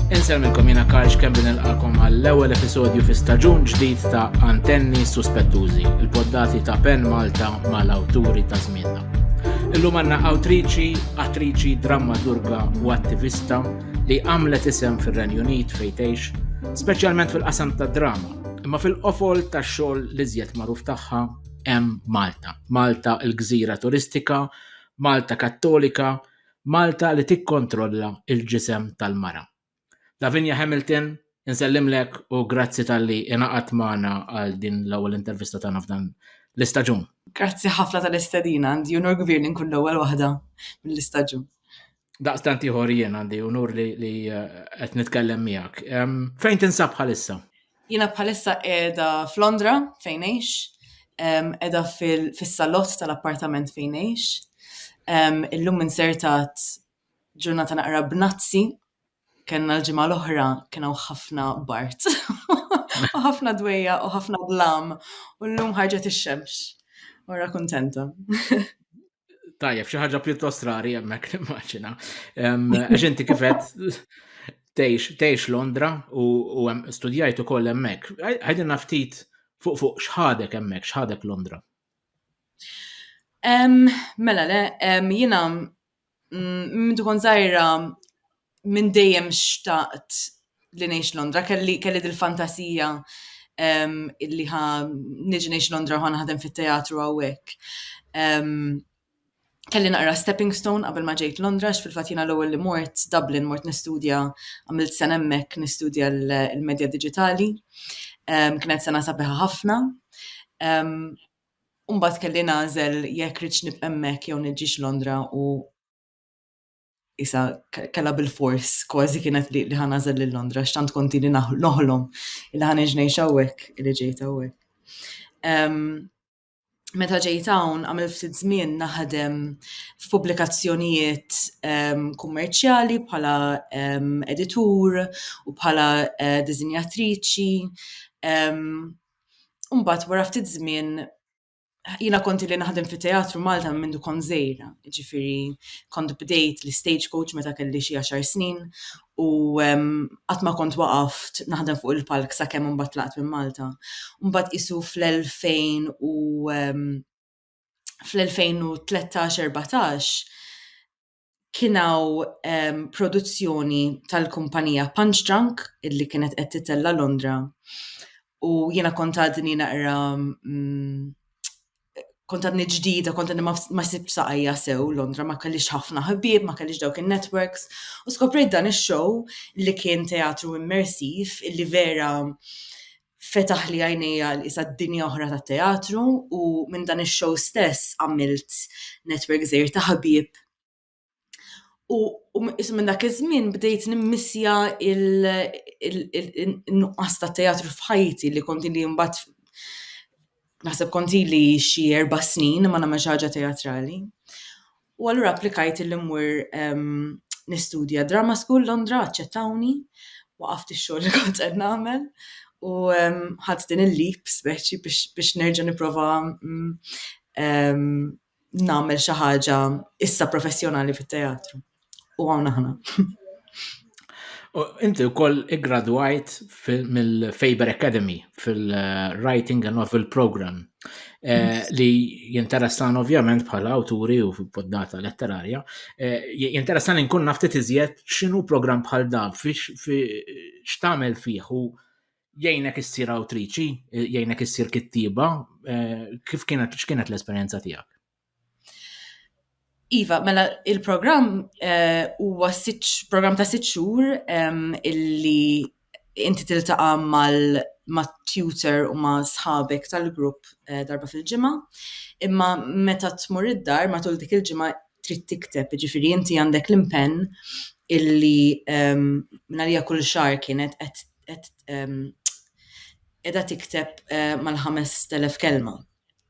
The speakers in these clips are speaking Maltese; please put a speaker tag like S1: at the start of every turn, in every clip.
S1: Inselmilkom jina Karl Xkembi nilqakom għall-ewwel episodju fi staġun ġdid ta' Antenni Suspettużi, il-poddati ta' Pen Malta mal-awturi ta' żmienna. Illum għandna awtriċi, attriċi, drammaturga u attivista li għamlet isem fir-Renju Unit fejtejx, speċjalment fil-qasam ta' drama, imma fil-qofol ta' xogħol li żjed magħruf tagħha hemm Malta. Malta l-gżira turistika, Malta Kattolika, Malta li tikkontrolla l-ġisem tal-mara. Lavinia Hamilton, insellimlek u grazzi talli ingħaqadt magħna għal din l-ewwel intervista tagħna f'dan l-istaġun. Grazzi ħafna tal-istedina, għandi unur kbir li nkun l-ewwel waħda mill-istaġun. Daqstant ieħor jien għandi unur li li eh, qed nitkellem miegħek. Fejn tinsab bħalissa? Jiena bħalissa qiegħda f'Londra fejn għex, qiegħda fis-salott tal-appartament fejn għex. Illum insertat ġurnata naqra b'nazzi, kellna l-ġimgħa l-oħra kien hawn ħafna bart. U ħafna dwejja u ħafna blam u llum ħarġet ix-xemx. Ora kuntenta. Tajjeb, xi ħaġa pjuttost rari hemmhekk nimmaġina. Għax inti kifet tgħix Londra u studjajt ukoll hemmhekk. Għajdilna ftit fuq fuq x'ħadek hemmhekk, x'ħadek Londra. Mela le, jiena mm, minn dukon żgħira minn dejjem xtaqt li ngħix Londra, kelli kelli dil-fantasija um, illi ħa niġi ngħix Londra ħa naħdem fit-teatru hawnhekk. Um, kelli naqra stepping stone qabel ma ġejt Londra, fil-fatt jiena l-ewwel li mort Dublin, mort nistudja għamilt sen hemmhekk nistudja l-medja diġitali. Um, kienet sena sabiħa ħafna. Um, Umbat kelli nażel jekk rridx nibqemmek jew niġġiex Londra u isa kella bil-fors, kważi kienet li li ħanażel lil Londra, xtant konti li noħlom, li ħan iġnej xawek, li ġejt għawek. Meta ġejt hawn għamil ftit żmien naħdem f'pubblikazzjonijiet kummerċjali bħala editur u bħala eh, dizinjatriċi. Umbat wara ftit żmien jina konti li naħdem fi teatru Malta minn du kon zejra, ġifiri kont bdejt li stage coach meta kelli xie 10 snin u għatma kont waqaft naħdem fuq il-palk sa' kemm un batlaqt minn Malta. Un bat isu fl-2000 u fl-2013-14 kien hawn ehm, produzzjoni tal-kumpanija Punch Drunk illi kienet qed titella Londra u jiena kont għadni naqra mm, kont għadni ġdida, kont għadni ma sib saqajja sew Londra, ma kellix ħafna ħbieb, ma kellix dawk il-networks, u skoprejt dan il-show li kien teatru immersiv, illi vera fetaħli għajnejja għal qisha dinja oħra tat-teatru u minn dan ix-show stess għamilt network żgħir ta' ħbieb. U qisu minn dak iż-żmien bdejt nimmissja il-nuqqas ta' teatru f'ħajti li kont li mbagħad naħseb kont li xi erba' snin ma nagħmel xi ħaġa teatrali. U allura applikajt illi mmur nistudja Drama School Londra, aċċettawni, waqaft ix-xogħol li kont qed nagħmel u ħadt din il-leap speċi biex nerġa' nipprova nagħmel xi ħaġa issa professjonali fit-teatru. U hawn aħna. Inti u koll gradwajt mill-Faber Academy fil-Writing a Novel Program eh, li jinteressan ovvjament bħala awturi u poddata letterarja, eh, jinteressan inkun naftit iżjed xinu program bħal da, xtamel fiħ u jgħinek issir awtriċi, eh, jgħinek issir kittiba, kif kienet l-esperienza tijak? Iva, mela il-programm eh, huwa programm ta' sitt xhur illi inti tiltaqa' mal ma' tutor u ma' sħabek tal-grupp eh, darba fil-ġimgħa. Imma meta tmur id-dar matul dik il-ġimgħa trid tikteb, jiġifieri inti għandek l-impenn illi minarija kull xahar kienet qed qiegħda tikteb eh, mal-5000 kelma.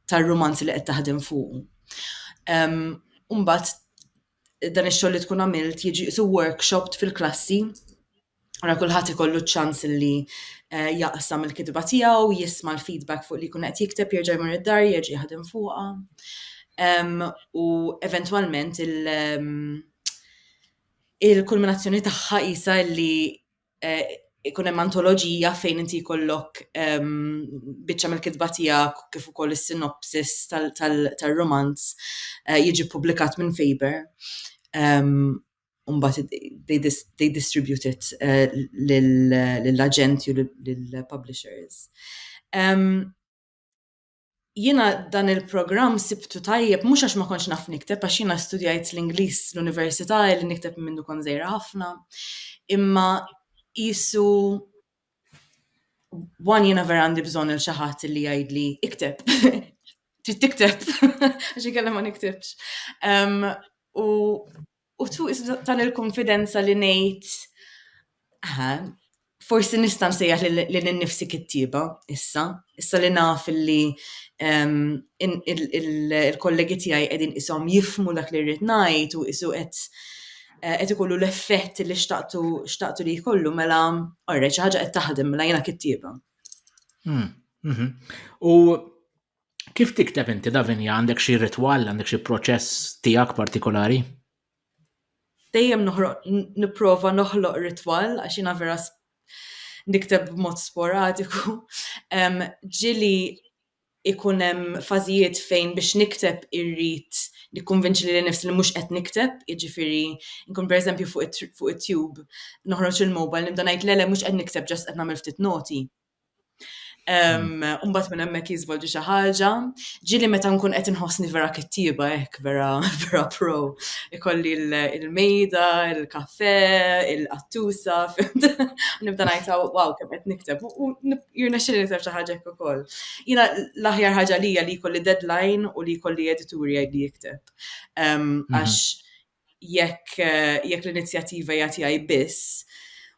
S1: tar-rumanz li qed taħdem fuqu. Mbagħad dan ix-xogħol li tkun għamilt jiġi qisu workshopped fil-klassi Ara kulħadd ikollu ċ-ċans li eh, jaqsam il-kitba tiegħu, jisma' l-feedback fuq li jkun qed jikteb, jerġa' jmur id-dar, jerġa' jaħdem fuqha. U eventwalment il- il-kulminazzjoni tagħha isa li ikun hemm antoloġija fejn inti jkollok ehm, biċċa mill-kitba tiegħek kif ukoll is-sinopsis tal-romanz eh, jiġi publikat minn Faber. Umbat ehm, they, dis they distribute it eh, lill-aġenti u lill-publishers. Ehm, jiena dan il-programm sibtu tajjeb mhux għax ma kontx naf nikteb għax jiena studjajt l-Ingliż l-università li nikteb minn mindu kont żgħira ħafna. Imma qisu one jiena vera għandi bżonn il xi ħadd li jgħidli ikteb. Trid tikteb għax inkella ma niktibx. U U tu tal il-konfidenza li ngħid forsi nista' nsejjaħ li ninnifsi kittieba issa, issa li naf li il-kollegi tiegħi qegħdin ishom jifhmu dak li rrid ngħid u qisu qed qed ikollu l-effett li xtaqtu xtaqtu li jkollu mela orrejt xi ħaġa qed taħdem mela jiena kittieba. Hmm, mhm. U Kif tikteb inti Davinia għandek xi ritwal għandek xi proċess tiegħek partikolari? Dejjem noħroq nipprova noħloq ritwal għax jiena vera nikteb b'mod sporadiku. Ġili ikun hemm fażijiet fejn biex nikteb irrid nikkonvinċi li nifsi li mhux qed nikteb, jiġifieri nkun pereżempju fuq it-tube noħroġ il-mobile nibda ngħid le le mhux qed nikteb ġast qed nagħmel ftit noti. Umbat minn hemmhekk jiżvolġi xi ħaġa. Ġieli meta nkun qed inħossni vera kittieba hekk, vera vera pro. Ikolli l-mejda, il-kafè, il-qattusa, nibda ngħid wow kemm qed nikteb u jirnexxieli nikteb xi ħaġa hekk ukoll. Jiena l-aħjar ħaġa lija li jkolli deadline u li jkolli editur jgħidli ikteb. Għax jekk jekk l-inizjattiva hija tiegħi biss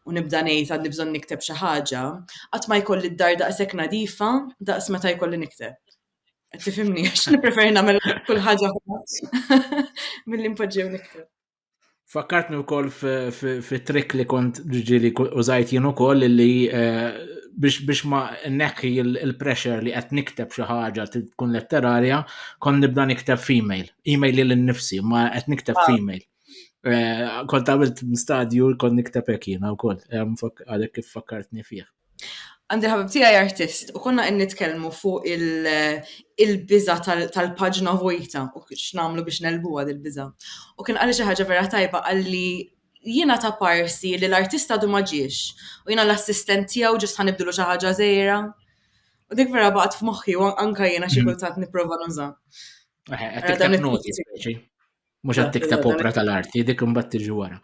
S1: u nibda ngħid għandi bżonn nikteb xi ħaġa, qatt ma jkolli d-dar daqshekk nadifa daqs meta jkolli nikteb. Qed tifhimni għax nippreferi nagħmel kull ħaġa milli npoġġew nikteb. Fakkartni wkoll fi trick li kont ġieli użajt jien ukoll li eh, biex biex ma nekki il-pressure li qed nikteb xi ħaġa tkun letterarja, kon nibda nikteb female. Email li l-nifsi, ma qed nikteb ah. f'email. Eh, kont għamilt stadju kont nikteb hekk jiena wkoll, eh, għalhekk kif fakkartni fih. Għandi ħabib tiegħi artist u konna qed nitkellmu fuq il-biża tal-paġna vojta u x'namlu biex nelbuha dil-biża. U kien qalli xi ħaġa vera tajba qalli jiena ta' parsi li l-artista du ma ġiex u jiena l-assistent tiegħu ġist ħanibdlu xi ħaġa żejra. U dik vera baqgħet f'moħħi u anka jiena xi mm. kultant nipprova nuża. Qed tikteb noti speċi. Mhux qed tikteb opra tal-arti, dik imbagħad tiġi wara.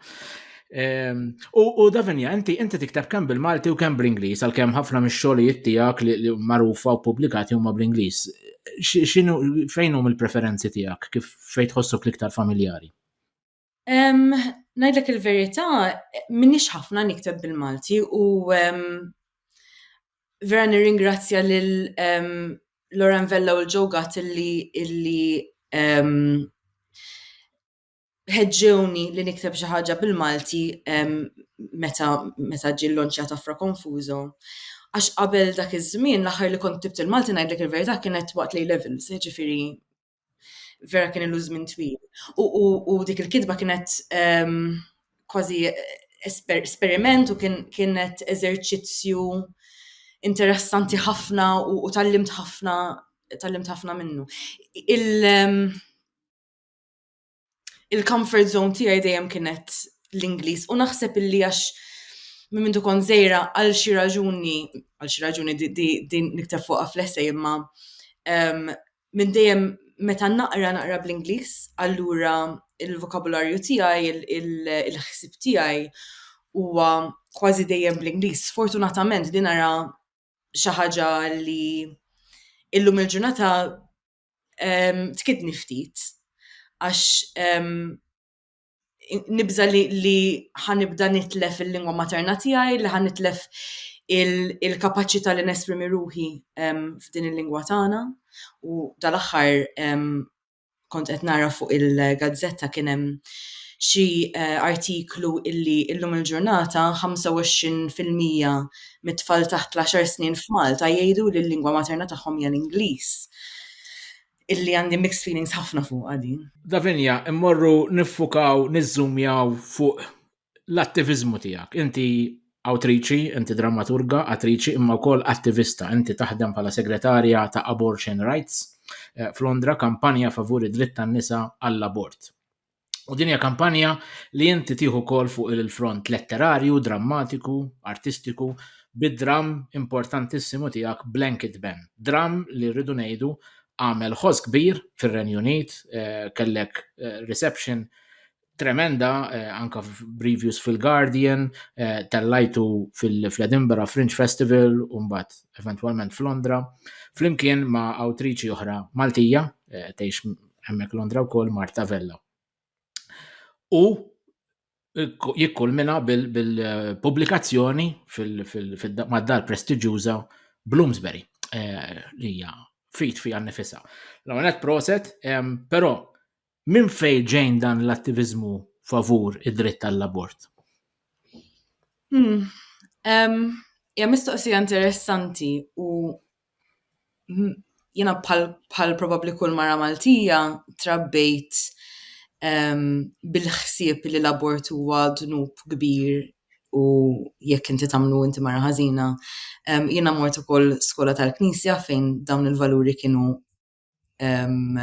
S1: Ehm, u Davinja, inti inti tikteb kemm bil-Malti u kemm bl-Ingliż, għalkemm ħafna mix-xogħlijiet tiegħek li magħrufa u pubblikati huma bl-Ingliż. X'inhu fejn hum il-preferenzi tiegħek kif fejn tħossok l-iktar familjari? Ngħidlek il-verità, minix ħafna nikteb bil-Malti u vera nirringrazzja lil Lauren Vella u l-Joe Gatt illi ħeġġewni li nikteb xi ħaġa bil-Malti meta ġie llonċjat Afra Konfużo għax qabel dak iż-żmien l-aħħar li kont ktibt il-Malti ngħidlek il-verità kienet waqt l-A Levels, jiġifieri Vera kien ilu żmien twil. U dik il-kitba kienet ehm, kważi esperiment u kienet eżerċizzju interessanti ħafna u tallimt ħafna tallimt ħafna minnu. Ehm, il-comfort zone tiegħi dejjem kienet l-Ingliż u naħseb illi għax minn mintu kon zejra għal xi raġuni, għal xi raġuni din niktar fuqa fl-essej imma ehm, minn dejjem meta naqra naqra bl-Ingliż, allura il-vokabularju tiegħi, il-ħsib tiegħi huwa kważi dejjem bl-Ingliż. Fortunatament din ara xi ħaġa li illum il-ġurnata tkidni ftit għax nibża li ħanibda nitlef il-lingwa materna tiegħi, li ħanitlef il-kapaċità li nesprimi ruħi f'din il-lingwa tagħna. U dal-aħħar kont qed nara fuq il-gazzetta kien hemm xi eh, artiklu illi illum il-ġurnata 25% mit-tfal taħt l-għaxar snin f'Malta jgħidu li l-lingwa materna tagħhom hija l-Ingliż. Illi għandi mixed feelings ħafna fuqha din. Davinia, immorru niffukaw, niżżumjaw fuq l-attiviżmu tiegħek. Inti awtriċi, inti drammaturga, attriċi, imma wkoll attivista. Inti taħdem bħala segretarja ta' Abortion Rights eh, f'Londra, kampanja favur id-dritt tan-nisa għall-abort. U din hija kampanja li inti tieħu kol fuq il-front letterarju, drammatiku, artistiku, bid-dram importantissimu tiegħek Blanket Ben. Dram li rridu ngħidu għamel ħoss kbir fir-Renju Unit, eh, kellek eh, reception tremenda eh, anka reviews fil-Guardian, tellajtu fil-Edinburgh Fringe Festival u mbagħad eventwalment f'Londra, flimkien ma' awtriċi oħra Maltija, tgħix hemmhekk Londra wkoll Marta Vella. U jikkulmina bil-pubblikazzjoni mad-dar prestiġjuża Bloomsbury eh, li hija fit fija nifisa. L-għonet proset, però minn fej ġejn dan l-attivizmu favur id-dritt tal-abort? Hmm. Ja mistoqsija interessanti u jiena bħal probabbli kull mara Maltija trabbejt ehm, bil-ħsieb li l-abort huwa dnub kbir u jekk inti tagħmlu inti mara ħażina. Ehm, jiena mort ukoll skola tal-Knisja fejn dawn il-valuri kienu ehm,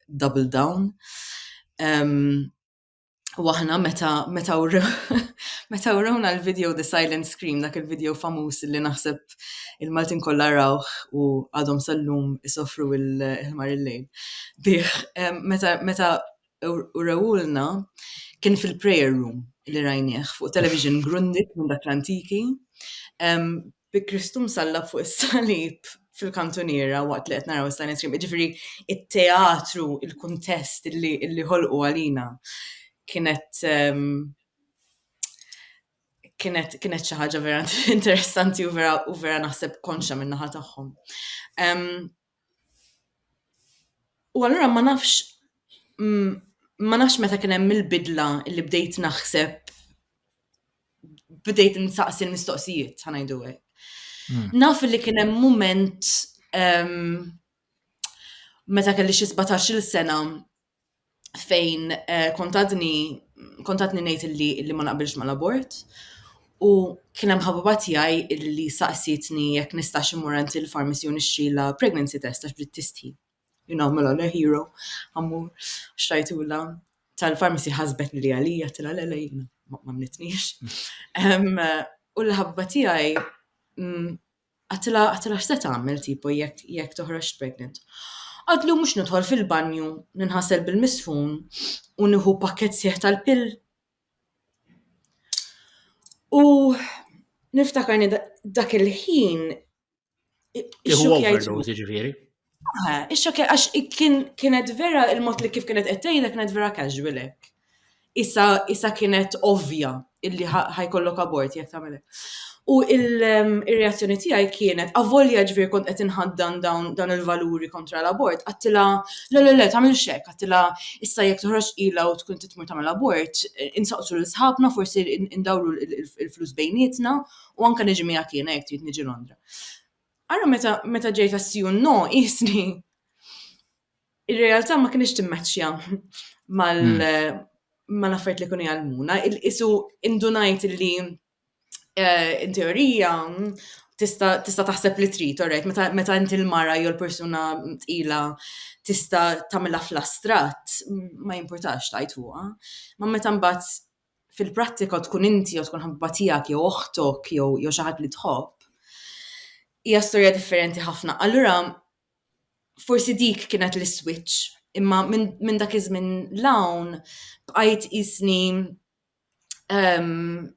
S1: double down. U aħna meta meta meta urawna l-video The Silent Scream, dak il-video famuż li naħseb il-Maltin kollha rawh u għadhom sal-lum isofru il-ħmar il-lejl. Bih, meta meta urawulna kien fil-prayer room li rajnieh fuq television grundit minn dak l-antiki. bi Kristu msallab fuq is-salib fil-kantuniera waqt li qed naraw is-silent stream. Ġifieri it-teatru, il-kuntest li, li ħolqu għalina kienet um, kienet kienet xi ħaġa vera interessanti u vera u vera naħseb konxa min-naħa tagħhom. Um, U allura ma nafx ma nafx meta kien hemm il-bidla li bdejt naħseb bdejt insaqsi l-mistoqsijiet, ħa ngħidu hekk. Hmm. Naf li kien hemm mument meta kelli xi 17-il sena fejn eh, kontatni kontatni ngħid illi illi ma naqbilx mal-abort u kien hemm ħabba tiegħi illi saqsietni jekk nistax imur għand il-farmacy u nixtrila pregnancy test għax bdiet tistħi. You know, mela le hero, għammur, xtajtula tal-farmacy ħasbet li għalija tila le le jina, ma mnitnix. U l-ħabba tiegħi mm, Għattilha għattilha x'se tagħmel tipo jekk jekk toħroġx pregnant. Għadlu mhux nidħol fil-banju, ninħasel bil-misfun u nieħu pakkett sħiħ tal-pill. U niftakar dak il-ħin Tieħu overdose jiġifieri. Eh, Ix-xokja, għax kien kienet vera il-mod li kif kienet qed tgħidha kienet vera casual hekk. Issa issa kienet ovvja illi ħa- ħajkollok abort jekk tagħmel hekk. U il- em, ir-reazzjoni tiegħi kienet avolja ġifier kont qed inħaddan dawn dawn il-valuri kontra l-abort, għattila le le le tagħmel xek, għattila issa jekk toħroġ ila u tkun titmur tagħmel abort, eh, insaqsu lil sħabna forsi in- indawru il- il- il-flus bejnietna u anke niġi miegħek jiena jekk trid niġi Londra. Ara meta meta ġejt għas-si u n-no qisni ir-realtà ma kinitx timmaċċja mal mal-affarijiet li kienu jgħallmuna, qisu indunajt li eh, in teorija tista' tista' taħseb li trid, alright, meta meta inti l-mara jew l-persuna tqila tista' tagħmilha fl-astratt, ma jimpurtax tajt fuqha. Ma meta mbagħad fil-prattika tkun inti jew tkun ħabba tiegħek jew oħtok jew jew xi ħadd li tħobb, hija storja differenti ħafna. Allura forsi dik kienet l-iswitch, imma minn minn dak iż-żmien 'l hawn bqajt qisni ehm,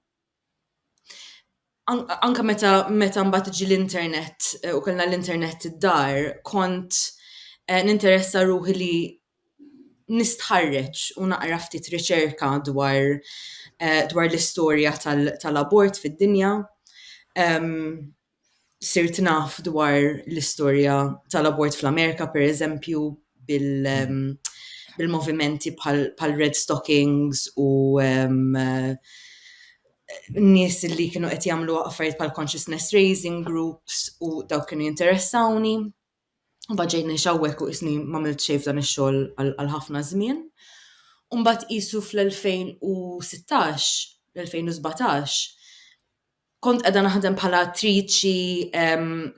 S1: anka meta meta mbagħad ġi l-internet eh, u kellna l-internet id-dar, kont eh, ninteressa ruħi li nistħarreġ u naqra ftit riċerka dwar eh, dwar l-istorja tal-abort fid-dinja. Sirt naf dwar l-istorja tal-abort fl-Amerika, per eżempju, bil-movimenti pal-red stockings u nies li kienu qed jagħmlu affarijiet bħal consciousness raising groups u dawk kienu jinteressawni. Mbagħad ġejt ngħix hawnhekk u isni m'għamilt xejn f'dan ix-xogħol għal ħafna żmien. U mbagħad qisu fl-2016, l-2017, kont qiegħda naħdem bħala attriċi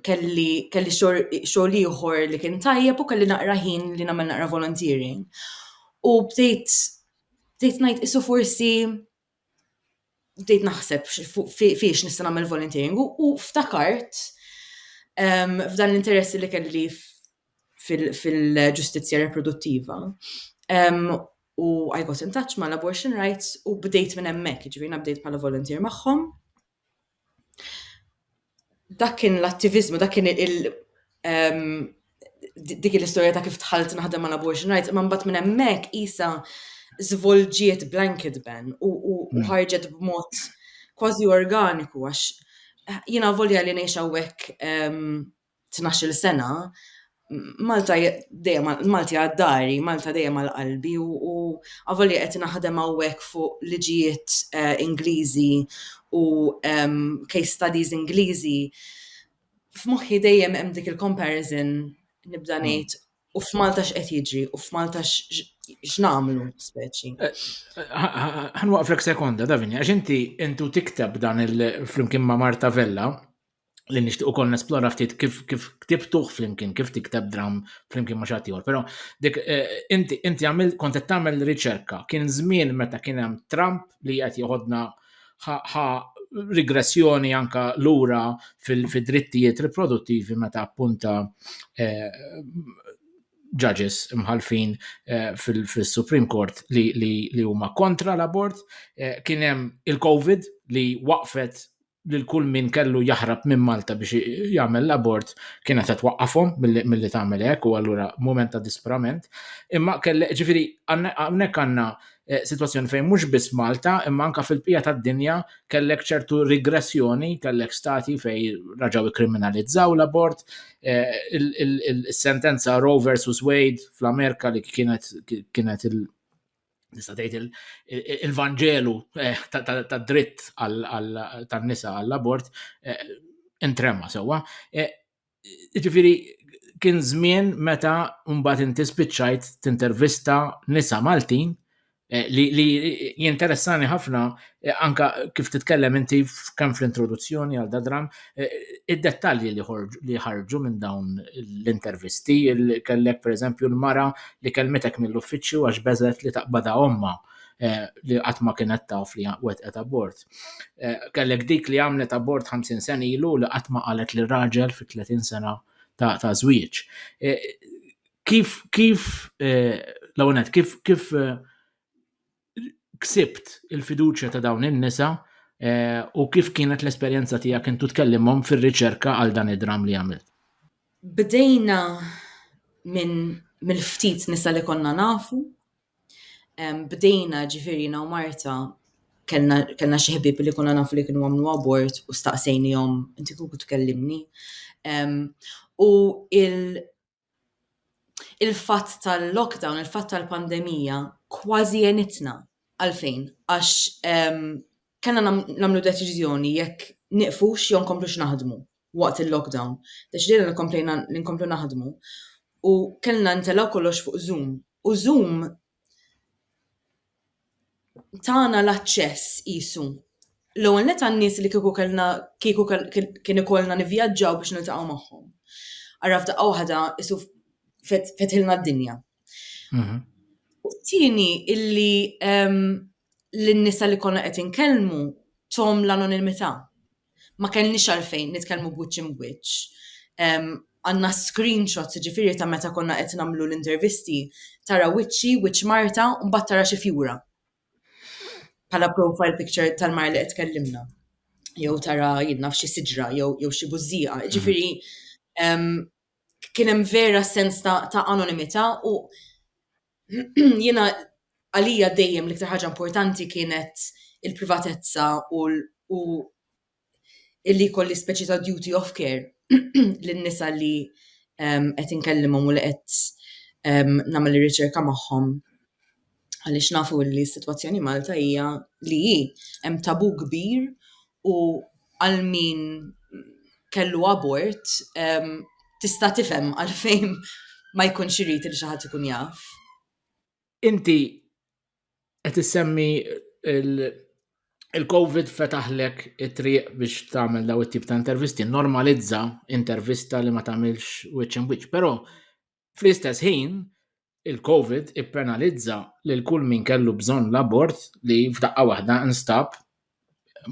S1: kelli kelli xogħol ieħor li kien tajjeb u kelli naqra ħin li nagħmel naqra volunteering. U bdejt bdejt ngħid isu forsi bdejt naħseb fiex nista' nagħmel volunteering u ftakart ehm, f'dan l-interess li kelli fil-ġustizzja reproduttiva. Ehm, u I got in touch ma' l-abortion rights u bdejt minn hemmhekk, ġifieri bdejt bħala volunteer magħhom. Dak kien l-attiviżmu, dak kien il dik hi l-istorja ta' kif dħalt naħdem mal-abortion rights, imma mbagħad minn hemmhekk qisha żvolġiet blanket ban u ħarġet b'mod kważi organiku għax jiena avolja li ngħix hawnhekk tnax-il sena, Malta dejjem Malti għad dari, Malta dejjem għal qalbi u avolja qed naħdem hawnhekk fuq liġijiet Ingliżi u case studies Ingliżi, f'moħħi dejjem hemm dik il-comparison nibda ngħid u f'Malta x'qed jiġri u f'Malta x'nagħmlu speċi. Ħanwaqflek sekonda Davinja, għax inti intu tiktab dan il-flimkien ma' Marta Vella li nixtieq ukoll nesplora ftit kif kif ktibtuh flimkien, kif tikteb dram flimkien ma' xatt ieħor. Però dik eh, inti inti għamil kont qed tagħmel riċerka, kien żmien meta kien hemm Trump li qed joħodna ħa rigressjoni anka lura fil-drittijiet riproduttivi meta appunta eh, judges imħalfin eh, fil-Supreme Court li huma kontra l-abort, eh, kien hemm il-COVID li waqfet lil kull min kellu jaħrab minn Malta biex jagħmel l-abort kienet qed twaqqafhom milli tagħmel hekk u allura mument ta' disprament. Imma kelli ġifieri hawnhekk għandna eh, sitwazzjoni fejn mhux biss Malta imma anke fil-pija tad-dinja kellek ċertu rigressjoni, kellek stati fejn raġgħu ikkriminalizzaw l-abort, eh, is-sentenza Roe versus Wade fl-Amerika li kienet kienet il- nista' tgħid il-vanġelu eh, tad-dritt tan-nisa għall-abort eh, intrema sewwa. Eh, ġifieri kien żmien meta mbagħad inti spiċċajt tintervista nisa Maltin li jinteressani ħafna E, anka kif titkellem inti kemm fl-introduzzjoni għal dadram, e, id-dettalji li ħarġu minn dawn l-intervisti, kellek per eżempju l-mara li kelmetek mill-uffiċċju għax beżet li taqbada omma e, li qatt ma kienet taf li wetqet abort. Kellek dik li għamlet abort 50 sen ilu li qatt ma qalet li raġel fi 30 sena ta' ta' żwieġ. Kif kif l-għonet, kif kif ksibt il-fiduċja ta' dawn in-nisa eh, u kif kienet l-esperjenza tiegħek intu tkellimhom fir-riċerka għal dan id-dram li għamilt? Bdejna minn mill-ftit nisa li konna nafu. Bdejna ġifiri na Marta kellna xi ħbieb li konna nafu li kienu għamlu abort u staqsejnihom inti kuku tkellimni. U il- il-fatt tal-lockdown, il-fatt tal-pandemija kważi għenitna. Għalfejn? Għax ehm, kellna nagħmlu deċiżjoni jekk niqfux jew nkomplux naħdmu waqt il-lockdown. Deċidejna nkomplejna nkomplu naħdmu u kellna ntelgħu kollox fuq Zoom. U Zoom tana l-aċċess qisu. L-ewwel nett għan-nies li kieku kellna kieku kien ikollna nivvjaġġaw biex niltaqgħu magħhom. Ara f'daqqa waħda isu fetħilna d-dinja. Mhm. U t-tieni illi l-nisa li konna qed inkellmu tom l-anonimità. ma kellniex għalfejn nitkellmu b'wiċċ imbwiċċ. Għandna screenshots ġifiri ta' meta konna qed nagħmlu l-intervisti, tara wiċċi, wiċċ Marta, u mbagħad tara xi fjura. Bħala profile picture tal-mar li qed tkellimna. Jew tara jidna f'xi siġra jew jew xi bużżieqa. Mhm. Ġifiri, kien hemm vera sens ta' anonimità u jiena għalija dejjem l-iktar ħaġa importanti kienet il-privatezza u u illi jkolli speċi ta' duty of care lin-nisa li ehm, qed inkellimhom u li qed ehm, nagħmel ir-riċerka magħhom għaliex nafu li s-sitwazzjoni Malta hija li hi hemm tabu kbir u għal min kellu abort tista' tifhem għalfejn ma jkunx irid li xi ħadd ikun jaf. Inti qed issemmi il-Covid fetaħlek it-triq biex tagħmel daw it-tip ta' intervisti, normalizza intervista li ma tagħmilx wiċċ imwiċċ, però Fl-istess ħin, il-Covid ippenalizza lil kull min kellu bżonn l-abort li f'daqqa waħda nstab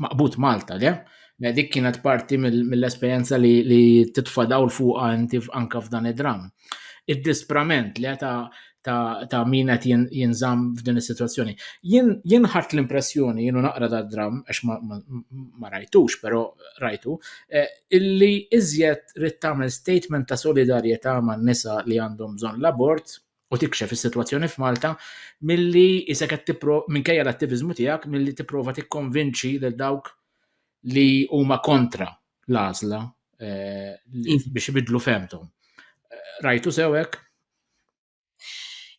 S1: maqbud Malta, le? Mela, dik kienet parti mill-esperjenza li, li titfa' dawl fuqha inti anka f'dan id-dramm. Id-disprament le ta' ta', ta min qed jinżamm f'din is-sitwazzjoni. Jien ħadd l-impressjoni, jienu naqra da dramm, għax ma, ma, ma rajtux, però rajtu, eh, illi iżjed rid tagħmel statement ta' solidarjetà man-nisa li għandhom bżonn l-abort u tikxef is-sitwazzjoni f'Malta milli isek qed tippro minkejja l-attiviżmu tiegħek milli tipprova tikkonvinċi lil dawk li huma kontra l-għażla eh, mm. biex ibidlu femtom. Eh, rajtu sewek?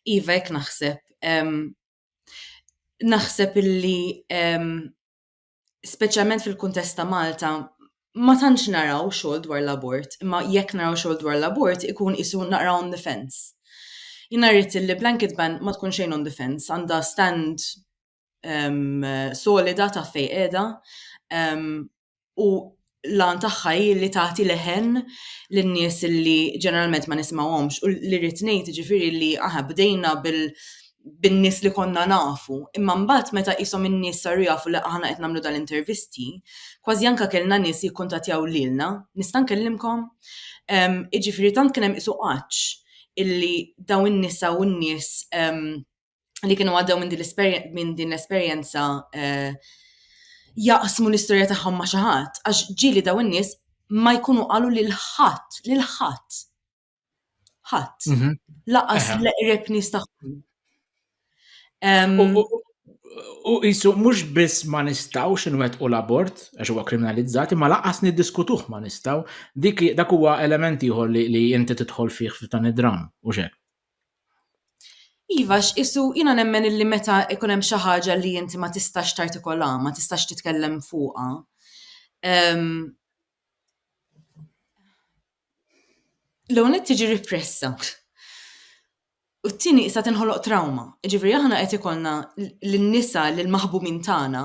S1: Iva, jek naħseb. Naħseb illi speċjalment fil-kuntest ta' Malta, ma tantx naraw xogħol dwar l-abort, imma jekk naraw xogħol dwar l-abort ikun isu naqra on the fence. Jina rrit li blanket ban ma tkun xejn on the fence, għandha stand um, solida ta' fej qiegħda um, u l-għan tagħha hi li tagħti leħen lin-nies li ġeneralment ma nisimgħuhomx u li rrid ngħid jiġifieri li aħna bdejna bil bin-nies li konna nafu. Imma mbagħad meta qishom in-nies saru jafu li aħna qed nagħmlu dan l-intervisti, kważi anke kellna nies jikkuntattjaw lilna, nista' nkellimkom? Ehm, jiġifieri tant kien hemm qisu għatx illi dawn in-nisa u n-nies ehm, li kienu għaddew minn din l-esperjenza eh, jaqsmu l-istorja tagħhom ma' xi ħadd għax ġieli daw in-nies ma jkunu qalu lil ħadd, lil ħadd. Ħadd. Mhm. Laqas l-qreb nies tagħhom. U jisu mhux biss ma nistgħux inwettqu l-abort għax huwa kriminalizzati, ma laqas niddiskutuh ma nistgħu. Dik dak huwa element ieħor li inti tidħol fih f'dan id-dram u xek. Iva, għax qisu jiena nemmen illi meta jkun hemm xi ħaġa li inti ma tistax tartikolha, ma tistax titkellem fuqha, l-ewwel nett tiġi ripressa, u t-tieni sa tinħoloq trawma. Jiġifieri aħna qed ikollna lin-nisa, lill-maħbumin tagħna,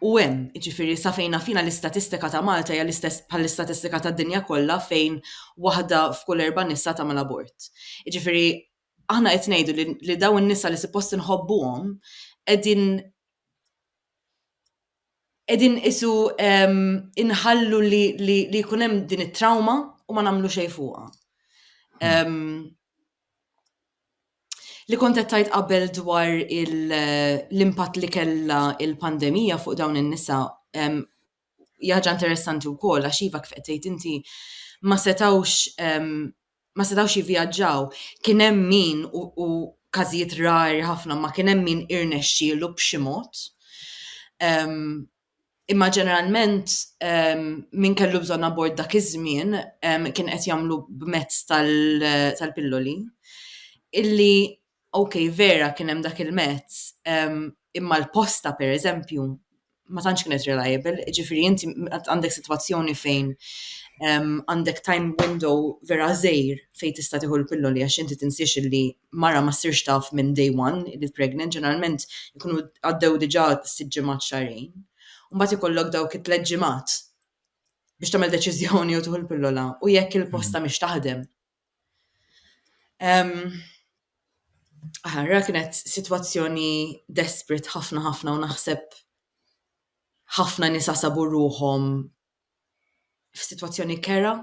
S1: u hemm, jiġifieri sa fejn naf jiena l-istatistika ta' Malta hija l-istess bħall-istatistika tad-dinja kollha fejn waħda f'kull erba' nisa tagħmel abort. Jiġifieri aħna qed ngħidu li li dawn in-nisa li suppost inħobbuhom qegħdin qegħdin qisu inħallu li li li jkun hemm din it-trawma u ma nagħmlu xejn fuqha. li kont qed tgħid qabel dwar l-impatt li kellha l-pandemija fuq dawn in-nisa hija ħaġa interessanti wkoll għax iva kif qed tgħid inti ma setgħux ma setgħux jivvjaġġaw. Kien hemm min u każijiet rari ħafna ma kien hemm min irnexxielu b'xi mod Imma ġeneralment min kellu bżonn abort dak iż-żmien kien qed jagħmlu b'mezz tal-pilloli illi ok vera kien hemm dak il-mezz imma l-posta pereżempju ma tantx kienet reliable, jiġifieri inti għandek sitwazzjoni fejn għandek time window vera qżir fejn tista' tieħu l-pilloli għax inti tinsiex illi mara ma ssirx taf minn day one li pregnant, ġeneralment ikunu għaddew diġà sitt ġimgħat xahrejn. U mbagħad ikollok dawk it-tliet ġimgħat biex tagħmel deċiżjoni u tuħu l-pillola u jekk il-posta mhix taħdem. Aħarra kienet sitwazzjoni desperate ħafna ħafna u naħseb ħafna nisa sabu ruħhom f'sitwazzjoni kerha,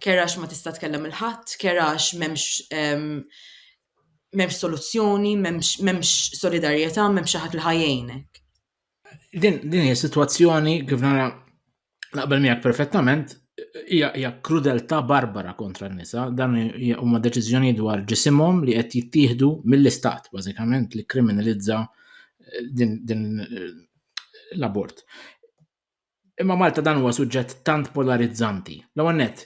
S1: kerha għax ma tista' tkellem il ħadd, kerha għax m'hemmx m'hemmx soluzzjoni, m'hemmx solidarjetà, m'hemmx xi ħadd li ħajjejnek. Din din hija sitwazzjoni kif nara naqbel miegħek perfettament hija krudeltà barbara kontra n-nisa, dan huma deċiżjoni dwar ġisimhom li qed jittieħdu mill-istat bażikament li kriminalizza din l-abort. Imma Malta dan huwa suġġett tant polarizzanti. L-ewwel nett,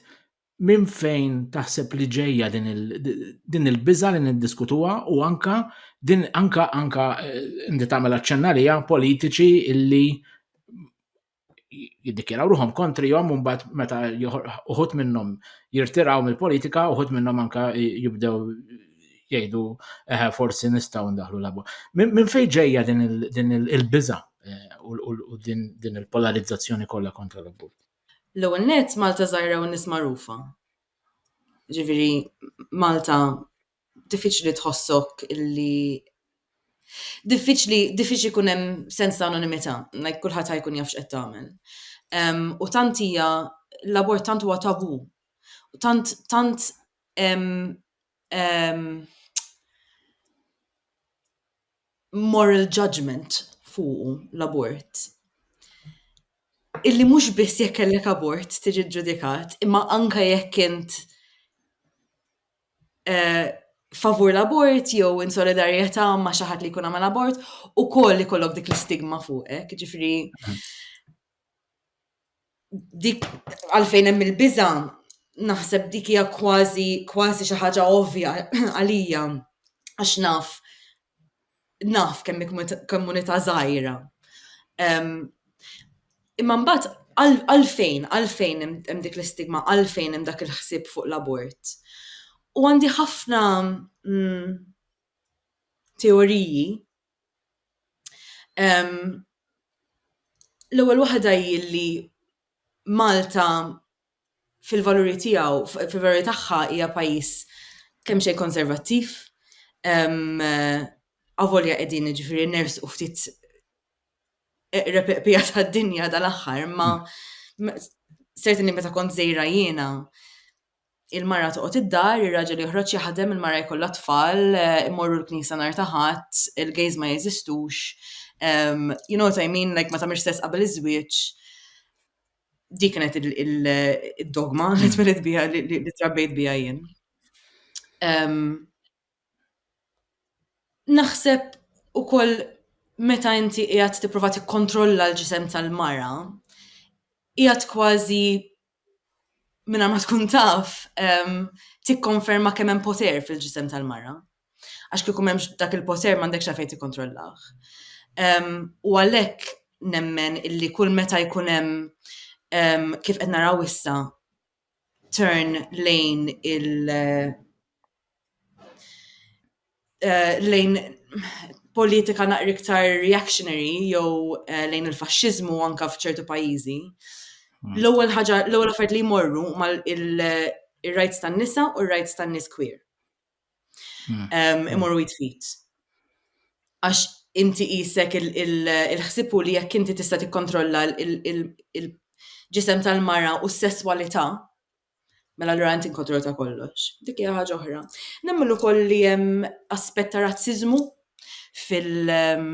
S1: minn fejn taħseb li ġejja din il-biża li niddiskutuha u anka din anka anka eh, inti tagħmel aċċenna li politiċi illi jiddikjeraw ruħom kontrihom u mbagħad meta uħut minnhom jirtiraw mill-politika, uħut minnhom anka jibdew jgħidu eħe forsi nistgħu ndaħlu labu. Minn fejn ġejja din il-biża eh, u din il-polarizzazzjoni kollha kontra l-abort? L-ewwel net Malta żgħira u nies magħrufa. Ġifieri Malta diffiċli tħossok illi diffiċli diffiċli kun hemm sens ta' anonimità, like kulħadd ħajkun jafx qed tagħmel. U tant hija l-abort tant huwa tabu. Tant tant moral judgment fuqu l-abort. Illi mhux biss jekk kellek abort tiġi ġudikat, imma anka jekk int eh, favur l-abort jew in solidarjetà ma' xi ħadd li jkun għamel abort, ukoll ikollok dik l-istigma fuqek, ġifri. dik għalfejn hemm il-biża' naħseb dik hija kważi kważi xi ħaġa ovvja għalija għax naf naf kemm hi komunità żgħira. Imma mbagħad għalfejn għalfejn hemm dik l-istigma, għalfejn hemm dak il-ħsieb fuq l-abort? U għandi ħafna teoriji L-ewwel waħda hi li Malta fil-valuri tiegħu, fil-valuri tagħha hija pajjiż kemxejn konservattiv, avolja qegħdin jiġifieri nersqu ftit eqreb il-qbija tad-dinja dal-aħħar, imma sertni meta kont żgħira jiena, il-mara toqgħod id-dar, ir-raġel joħroġ jaħdem, il-mara jkollha tfal, eh, immorru l-knisja nhar ta' ħadd, il-gays ma jeżistux. Um, you know what I mean, like ma tagħmilx stess qabel iż-żwieġ. Dik kienet il-dogma li hmm. twilet biha li trabbejt biha jien. Um, naħseb ukoll meta inti qiegħed tipprova tikkontrolla l-ġisem tal-mara, qiegħed kważi mingħajr ma tkun taf ehm, tikkonferma kemm hemm poter fil-ġisem tal-mara. Għax kieku m'hemmx dak il-poter m'għandekx għalfejn tikkontrollah. Ehm, u għalhekk nemmen illi kull meta jkun hemm ehm, kif qed naraw issa turn lejn il- eh, lejn politika naqri iktar reactionary jew eh, lejn il-faxxiżmu anka f'ċertu pajjiżi. Hmm. L-ewwel ħaġa, l-ewwel affarijiet li jmorru mal il-rights tan-nisa u r-rights tan-nies queer. Hmm. Imorru jitfit. Għax inti jisek il-ħsibu li jekk inti tista' tikkontrolla il-ġisem tal-mara u s-sesswalità Mela allura inti inkontru ta' kollox. Dik hija ħaġa oħra. Nemmen ukoll li hemm aspett ta' razziżmu fil- ehm,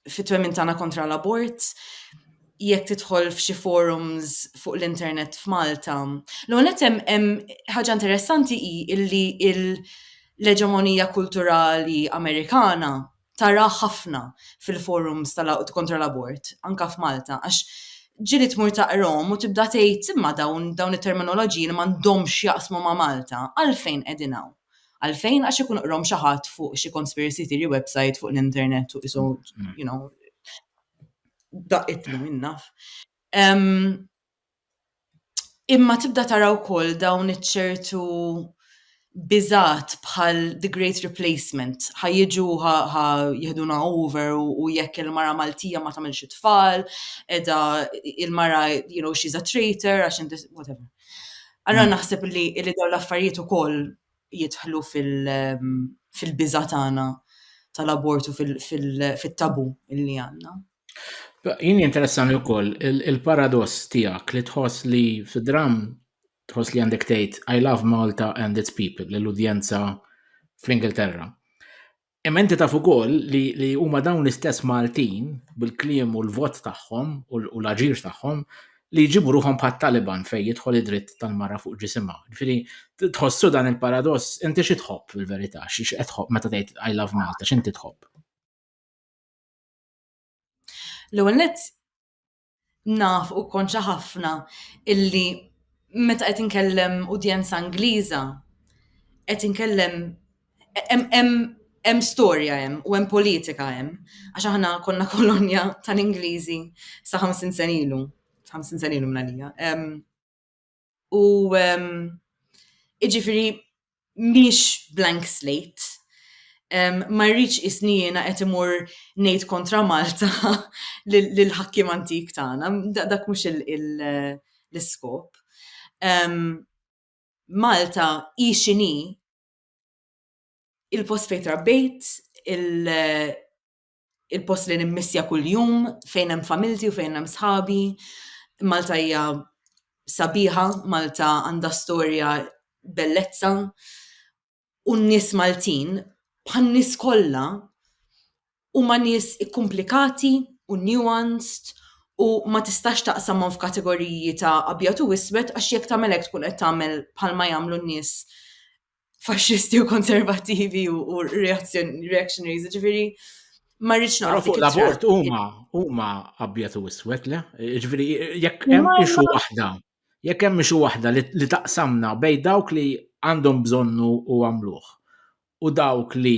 S1: fit-twemmin tagħna kontra l-abort. Jekk tidħol f'xi forums fuq l-internet f'Malta. L-ewwel hemm ħaġa interessanti hi illi l-eġemonija kulturali Amerikana tara ħafna fil-forums kontra l-abort, anke f'Malta, għax ġieli tmur taqrahom u tibda tgħid imma dawn dawn it-terminoloġiji li m'għandhomx x'jaqsmu ma' Malta, għalfejn qegħdin hawn? Għalfejn? Għax ikun qrahom xi ħadd fuq xi conspiracy theory website fuq l-internet u qisu you know daqqitna min naf. Imma tibda tara wkoll dawn iċ-ċertu biżgħat bħal the great replacement, ħa jiġu u ħa ħa jiħduna over u jekk il-mara Maltija ma tagħmilx it-tfal, qiegħda il-mara you know she's a traitor għax inti whatever. Allura naħseb li li dawn l-affarijiet ukoll jidħlu fil- fil-biża' tagħna tal-abort u fil- fil- fit-tabu li għandna. Jien jinteressani wkoll il-paradoss tiegħek li tħoss li fid-dramm tħoss li għandek tgħid I love Malta and its people lill-udjenza fl-Ingilterra. Imma inti taf ukoll li huma dawn l-istess Maltin bil-kliem u l-vot tagħhom u l-aġir tagħhom li jġibu ruħhom bħat-Taliban fejn jidħol id-dritt tal-mara fuq ġisimha. Ġifieri tħossu dan il-paradoss, inti xi tħobb fil-verità? X'qed tħobb meta tgħid I love Malta, x'inti tħobb? L-ewwel nett naf u konċa ħafna illi meta qed inkellem udjenza Ingliża qed inkellem hemm storja hemm u hemm politika hemm għax aħna konna kolonja tal-Ingliżi sa 50 sen ilu, 50 sen ilu minn għalija. U um, iġifiri miex blank slate. Um, ma rridx isni jiena qed imur ngħid kontra Malta lil ħakkim antik tagħna, dak mhux l-iskop. Um, Malta hi xini il-post fejn trabbejt, il-post li nimmissja kuljum, fejn hemm familti u fejn hemm sħabi. Malta hija sabiħa, Malta għandha storja bellezza u n-nies Maltin bħal nies kollha huma nies ikkumplikati u nuanced u ma tistax taqsamhom f'kategoriji ta' abjad u iswed għax jekk tagħmel hekk tkun qed tagħmel bħalma jagħmlu n-nies faxxisti u konservativi u reactionaries, ġifiri, ma rridx naqra fuq l-abort huma huma abjad u iswed le, ġifiri, jekk hemm ixu waħda, jekk hemm ixu waħda li taqsamna bej dawk li għandhom bżonnu u għamluh u dawk li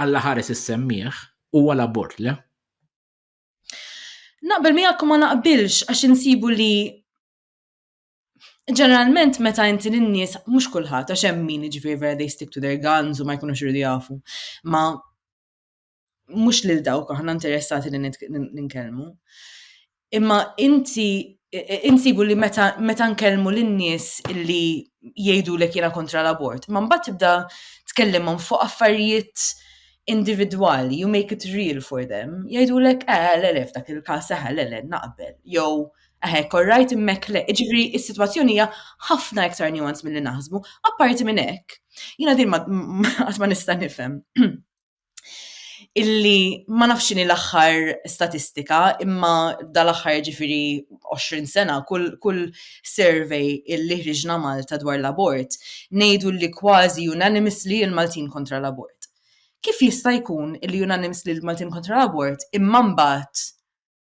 S1: alla ħares is-semmiħ huwa l-abort le. Naqbel miegħek ma naqbilx għax insibu li ġeneralment meta inti l-nies, mhux kulħadd, għax hemm min ġifieri vera they stick to their guns u ma jkunux irridu jafu. Ma mhux lil dawk aħna interessati li nitkellmu. Imma inti insibu li meta, meta nkellmu lin-nies li jgħidu lek jiena kontra l-abort, ma mbagħad tibda tkellimhom fuq affarijiet individwali, you make it real for them, jgħidu lek, eh, l-elef dak il-kas, eh, l-elef naqbel, jew Hekk, all right, immek le. Ġifieri is-sitwazzjoni hija ħafna iktar nuance milli naħsbu, apparti minn hekk. Jiena din qatt ma nista' nifhem. Illi ma nafx x'inhi l-aħħar statistika, imma dal-aħħar ġifieri 20 sena kull kull survey illi ħriġna Malta dwar l-abort ngħidu li kważi unanimously l-Maltin kontra l-abort. Kif jista' jkun illi unanimously l-Maltin kontra l-abort imma mbagħad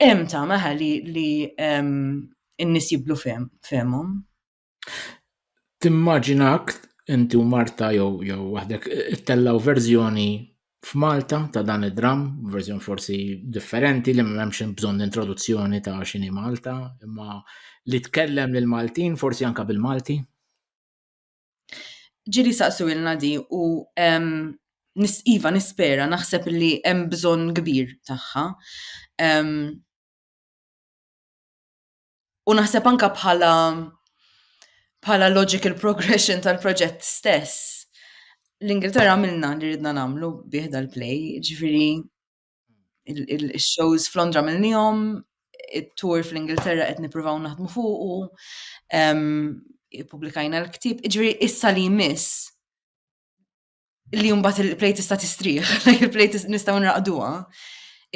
S1: Hemm ta' meħa li li n-nies jiblu fehmhom. Timmaġinak inti u Marta jew jew waħdek ittellaw verżjoni f'Malta ta' dan id-dramm, verżjoni forsi differenti li m'hemmx bżonn introduzzjoni ta' xini Malta, imma li tkellem lil Maltin forsi anke bil-Malti? Ġili saqsu ilna di u iva nispera naħseb li hemm bżonn kbir tagħha. U naħseb anka bħala bħala logical progression tal-proġett stess, l-Ingilterra għamilna li ridna nagħmlu bih dal-play, ġifieri il-shows f'Londra mill-nijom, il-tour fl-Ingilterra qed nippruvaw naħdmu fuq u publikajna l-ktib. Iġri issa li jmiss li jumbat il-plejt issa tistrieħ, il-plejt nistaw nraqduha,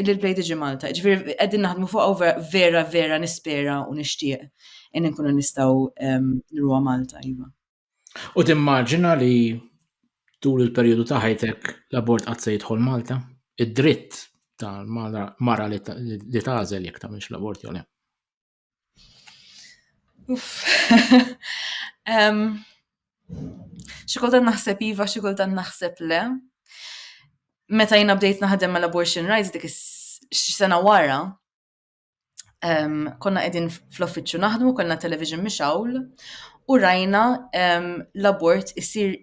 S1: illi l-plejt iġi Malta. Ġifiri, għedin naħdmu fuq vera, vera nispera u nishtiq in nkunu nistaw nruwa Malta, jiva. U timmaġina li tul il-perjodu ta' ħajtek l-abort qatt se jidħol Malta? Id-dritt tal-mara li tażel jekk tagħmilx l-abort jew le. Xi kultant naħseb iva, xi kultant naħseb le. Meta jiena bdejt naħdem mal-abortion rights dik is-sena wara, um, konna qegħdin fl-offiċċju naħdmu, konna television mixawl u rajna um, l-abort isir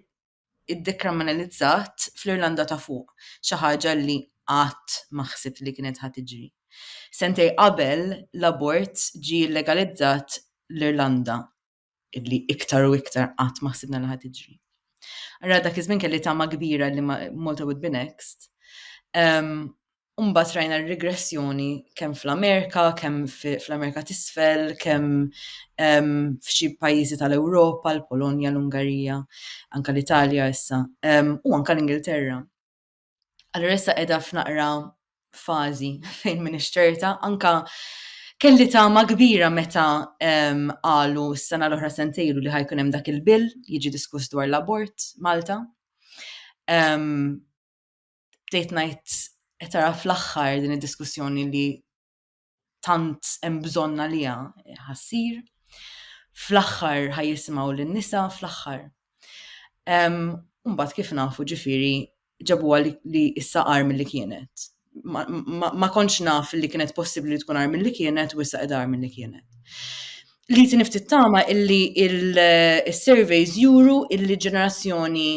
S1: id-dekriminalizzat fl-Irlanda ta' fuq, xi ħaġa li qatt ma ħsibt li kienet ħad tiġri. Sentej qabel l-abort ġi legalizzat l-Irlanda illi iktar u iktar qatt ma ħsibna li ħad tiġri. Ara dak iż-żmien kelli tama kbira li Malta would be next. Um, Umbat rajna r-regressjoni kemm fl-Amerika, kemm fl-Amerika tisfel, kemm f'xi pajjiżi tal-Ewropa, l-Polonja, l-Ungarija, anka l-Italja issa, u anka l-Ingilterra. Allura issa qiegħda f'naqra fażi fejn minn ixterta, anka kelli tama kbira meta qalu s-sena l-oħra sentejlu li ħajkun hemm dak il-bill jiġi diskuss dwar l-abort Malta. Bdejt ngħid qed tara fl-aħħar din id-diskussjoni li tant hemm bżonn għaliha ħassir. Fl-aħħar ħajjisimgħu lin-nisa fl-aħħar. Mbagħad kif nafu ġifieri ġabuha li issa qar milli kienet. Ma kontx naf li kienet possibbli li tkun qar milli kienet u issa qed qar milli kienet. Li tinif tittama illi il-surveys juru illi ġenerazzjoni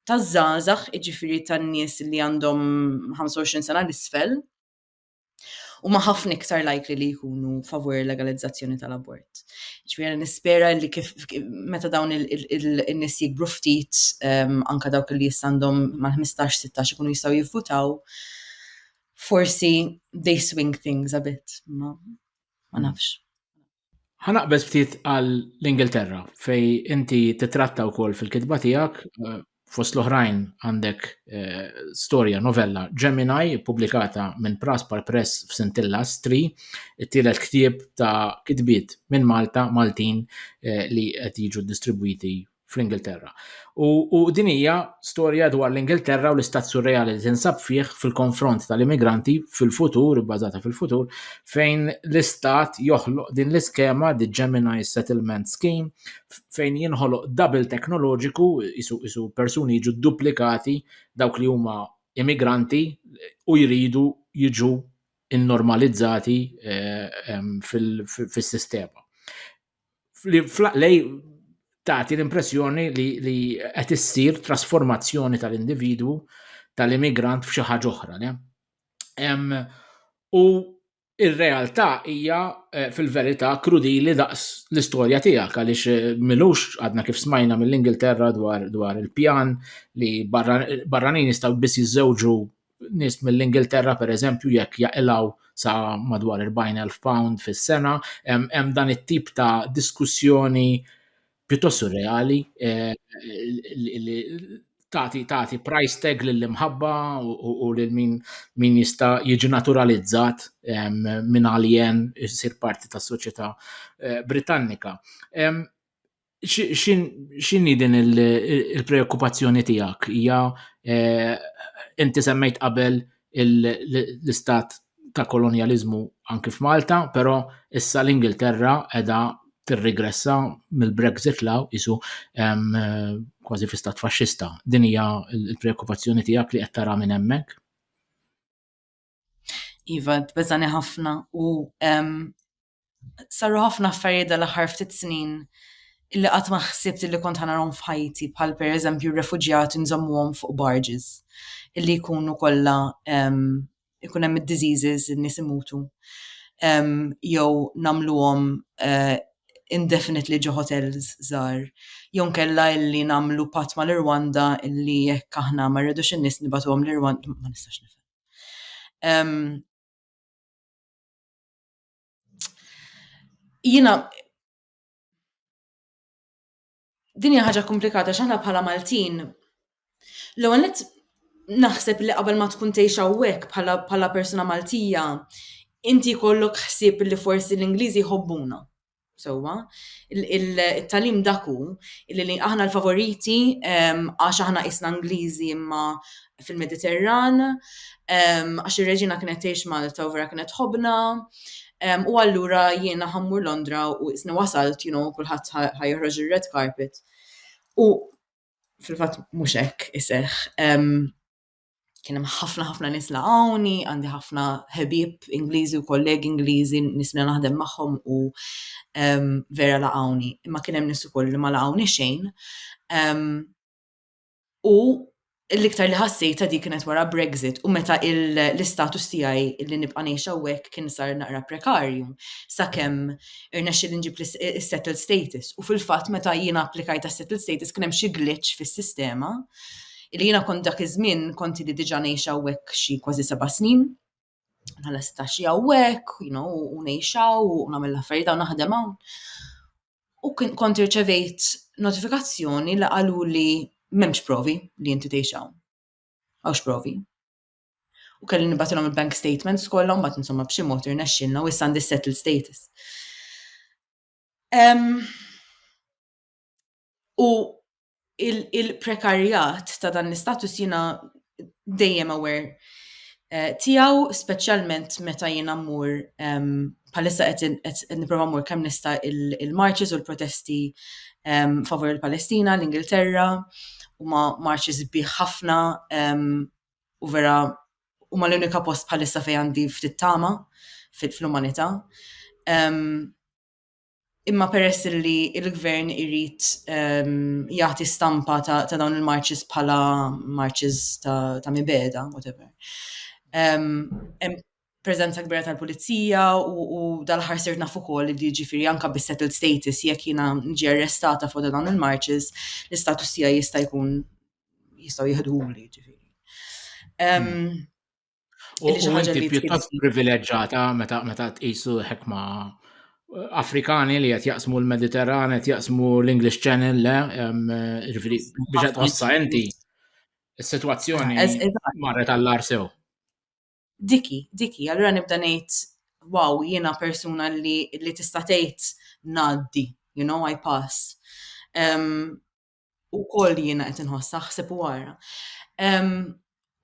S1: taż-żgħażagħ, jiġifieri tan-nies li għandhom 25 sena l-isfel, huma ħafna iktar likely li jkunu favur il-legalizzazzjoni tal-abort. Ġifieri nispera li kif meta dawn in-nies jikbru ftit ehm, anke dawk li jistandhom mal-15-16 ikunu jistgħu jivvutaw, forsi they swing things a bit, ma nafx. Ħanaqbeż ftit għal l-Ingilterra fej inti titratta wkoll fil-kitba tiegħek eh, fost l-oħrajn għandek eh, storja novella Gemini pubblikata minn Praspar Press f'Sintilla Stri, it-tielet ktieb ta' kitbiet minn Malta Maltin eh, li qed jiġu distribwiti fl-Ingilterra. U, u din hija storja dwar l-Ingilterra u l-istat surreali li tinsab fih fil-konfront tal-immigranti fil-futur, bbażata fil-futur, fejn l-istat joħloq din l-iskema, the Gemini Settlement Scheme, fejn jinħoloq double teknoloġiku, isu, isu persuni jiġu duplikati dawk li huma immigranti u jridu jiġu innormalizzati eh, fil-sistema. li flaqlej tagħti l-impressjoni li li qed issir trasformazzjoni tal-individwu tal-immigrant f'xi ħaġa oħra. U ir-realtà hija eh, fil-verità krudili daqs l-istorja tiegħek għaliex eh, milux għadna kif smajna mill-Ingilterra dwar, dwar il-pjan li barranin jistgħu biss jiżżewġu nies mill-Ingilterra pereżempju jekk jaqilgħu sa madwar 40,000 pound fis-sena, hemm dan it-tip ta' diskussjoni pjuttost surreali eh, li tagħti tagħti price tag lill-imħabba u lil min min jista' jiġi naturalizzat minn alien isir parti tas-soċjetà eh, Britannika. X'inhi din il-preokkupazzjoni tiegħek? Hija eh, inti semmejt qabel l-istat ta' kolonjaliżmu anki f'Malta, però issa l-Ingilterra qiegħda tirrigressa mill-Brexit law isu kważi fi stat faxxista. Din hija l-preokkupazzjoni tiegħek li qed tara minn hemmhekk? Iva, tbeżani ħafna u saru ħafna affarijiet dal-aħħar ftit snin li qatt ma ħsibt li kont ħanarhom f'ħajti bħal pereżempju r-refuġjati nżommuhom fuq barges illi jkunu kollha ikun hemm id-diseases in-nies imutu jew nagħmluhom eh, indefinitely ġo hotels żgħar jew nkella illi nagħmlu patt mal-Irwanda illi jekk aħna ma rridux in-nies nibatuhom l-Irwanda ma nistax nifhem. Jiena din hija ħaġa komplikata x'aħna bħala Maltin l-ewwel nett naħseb li qabel ma tkun tgħix hawnhekk bħala bħala persuna Maltija inti jkollok ħsieb li forsi l-Ingliżi jħobbuna. sewwa. Il-talim dak hu li aħna l-favoriti għax aħna qisna Ingliżi imma fil-Mediterran, għax ir-reġina kienet tgħix Malta u vera kienet tħobbna, u allura jiena ħa mmur Londra u qisni wasalt, you know, kulħadd ħa joħroġ ir-red carpet. U fil-fatt mhux hekk iseħħ. kien hemm ħafna ħafna nies laqgħuni, għandi ħafna ħebieb Ingliżi u kollegi Ingliżi nies li naħdem magħhom u um, vera laqgħuni. Imma kien hemm nies ukoll li ma laqgħuni xejn. Um, u l-iktar li ħassejta dik kienet wara Brexit u meta l-istatus tiegħi li nibqa' ngħix hawnhekk kien sar naqra prekarju sakemm irnexxi li nġib is-settled status. U fil-fatt meta jiena applikajt għas-settled status kien hemm xi glitch fis-sistema Illi jiena kont dak iż-żmien kont li diġà ngħix hawnhekk xi kważi seba' snin. Bħala seta' xi hawnhekk, you know, u ngħix hawn u nagħmel l-affarijiet hawn naħdem hawn. U kont irċevejt notifikazzjoni li qalu li m'hemmx provi li inti tgħix hawn. Hawnx provi. U kelli nibatilhom il-bank statements kollha mbagħad insomma b'xi mod irnexxilna u issa għandi settled status. U il-prekarjat ta' dan l-istatus jina dejjem aware eh, tiegħu speċjalment meta jiena mmur palissa qed nipprova mmur kemm nista' il-marches u l-protesti favur il-Palestina, l-Ingilterra, u ma marches biħ ħafna u vera u ma l-unika post palissa fej għandi ftit tama fil-umanità. imma peress li il-gvern irrit um, ehm, jagħti stampa ta', ta dawn il-marches bħala marches ta', ta mibeda, whatever. Um, prezenza kbira tal-pulizija u, u dal-ħar sirt naf ukoll li ġifiri anka bis settled status jekk jiena ġi arrestata fuq dawn il-marches l-istatus tiegħi jista' jkun jistgħu jihduli ġifiri. Um, U inti pjuttost privileġġata meta meta tqisu ħekma eh, Afrikani li qed jaqsmu l-Mediterran, qed jaqsmu l-English Channel, le, eh, ġifieri biex qed tħossha inti. Is-sitwazzjoni ah, marret għall-ar sew. Diki, diki, allura nibda ngħid wow, jiena persuna li, li tista' tgħid ngħaddi, you know, I pass. Um, u koll jiena qed inħoss naħseb u għara.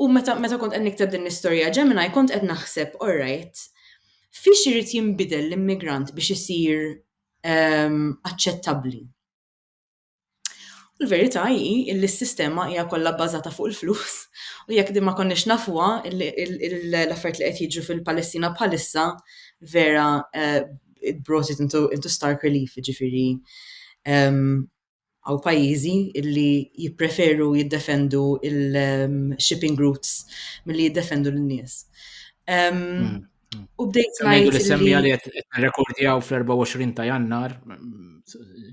S1: U meta meta kont qed nikteb din l-istorja Gemini kont qed naħseb orrajt fiex irid jinbidel l-immigrant biex isir aċċettabbli. U l-verità hi li s-sistema hija kollha bbażata fuq il-flus u jekk din ma konniex nafuha l-affarijiet li qed jiġu fil-Palestina bħalissa vera it brought it into, into stark relief, ġifiri Hawn pajjiżi li jippreferu jiddefendu il-shipping routes milli jiddefendu lin-nies. Mm. U bdejt ngħid. li semmi għal qed nirrekordjaw fl-24 ta' Jannar,